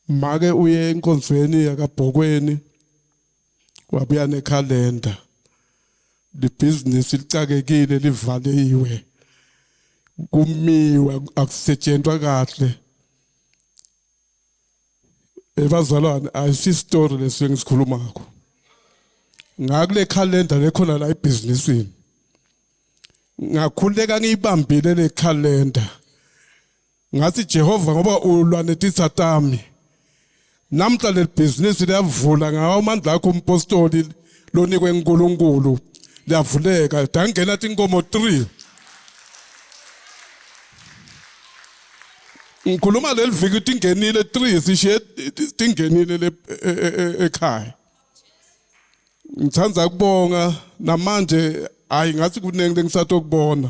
make uye enkonzweni yakabhokweni wabuya nekhalenda libhizinisi licakekile livaliwe kumiwe akusetshenzwa kahle ebazalwane ayisi story lesi engisikhuluma ngakho ngakule calendar lekhona la ebhizinisini ngakhuleka ngiyibambile le calendar Ngathi Jehova ngoba ulwa netitha tami. Namhla lebhizinisi liyavula ngawo amandla akho umpostoli lonikwe uNkulunkulu liyavuleka dangena tinkomo 3 ngikhuluma leli viki tingenile 3 sishiye tingenile le e, e, e, ekhaya ngithanda kubonga namanje hayi ngathi kuningi lengisatokubona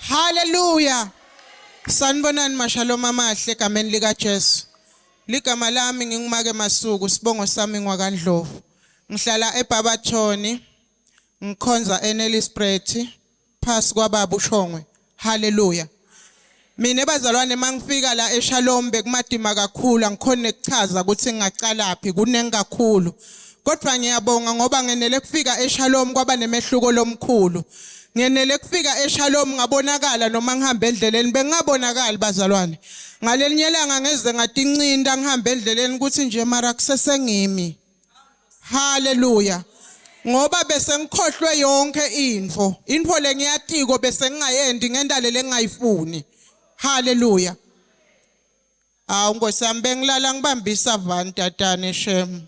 Hallelujah. Sanibonani mashalom amahle egameni lika Jesu. Ligama lami ngingumake masuku sibongo sami ngwakandlovu. Ngihlala eBabathoni. Ngikhonza eNellisbrethi phasi kwababa uShongwe. Hallelujah. Mina bazalwane mangifika la eShalom bekumadima kakhulu angikhona ukuchaza ukuthi ngingaqalaphi kuningi kakhulu. Kodwa ngiyabonga ngoba ngenele kufika eShalom kwaba nemehluko lomkhulu. Ngenele kufika eShalom ngabonakala noma ngihamba endleleni bengingabonakali bazalwane. Ngalelinye langa ngeze ngatincinda ngihamba endleleni ukuthi nje mara kusesengimi. Hallelujah. Ngoba bese ngikhohlwe yonke info. Info lengiyatiko bese ngingayendi ngendale lengayifuni. Hallelujah. Awu Nkosi yami bengilala ngibambisa van tatane shem.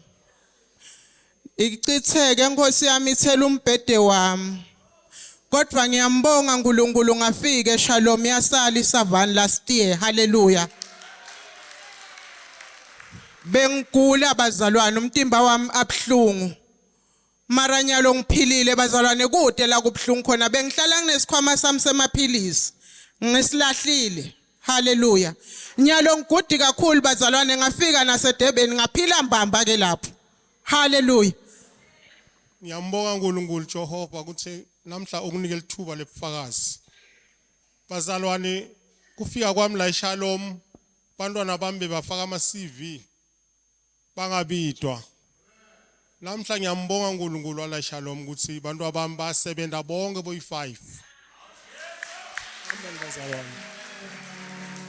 Ichitheke Nkosi yami ithela umbhede wami. Kodwa ngiyambonga uNkulunkulu ngafike Shalom yasala isavani last year. Hallelujah. Bengigula bazalwane umtimba wami abhlungu. Mara nyalo ngiphilile bazalwane kude la kubhlungu khona bengihlala nginesikhwama sami semaphilisi. Ngisilahlile. Hallelujah. Nyalo ngigudi kakhulu bazalwane ngafika naseDurban ngaphila mbamba ke lapho. Hallelujah. Ngiyambonga uNkulunkulu Jehova ukuthi namhla ukunike lithuba lebufakazi. Bazalwane kufika kwami la eShalom bantwana bami bebafaka ama CV bangabidwa. Namhla ngiyambonga uNkulunkulu wala eShalom ukuthi bantwana bami basebenza bonke boyi5. Amen bazalwane.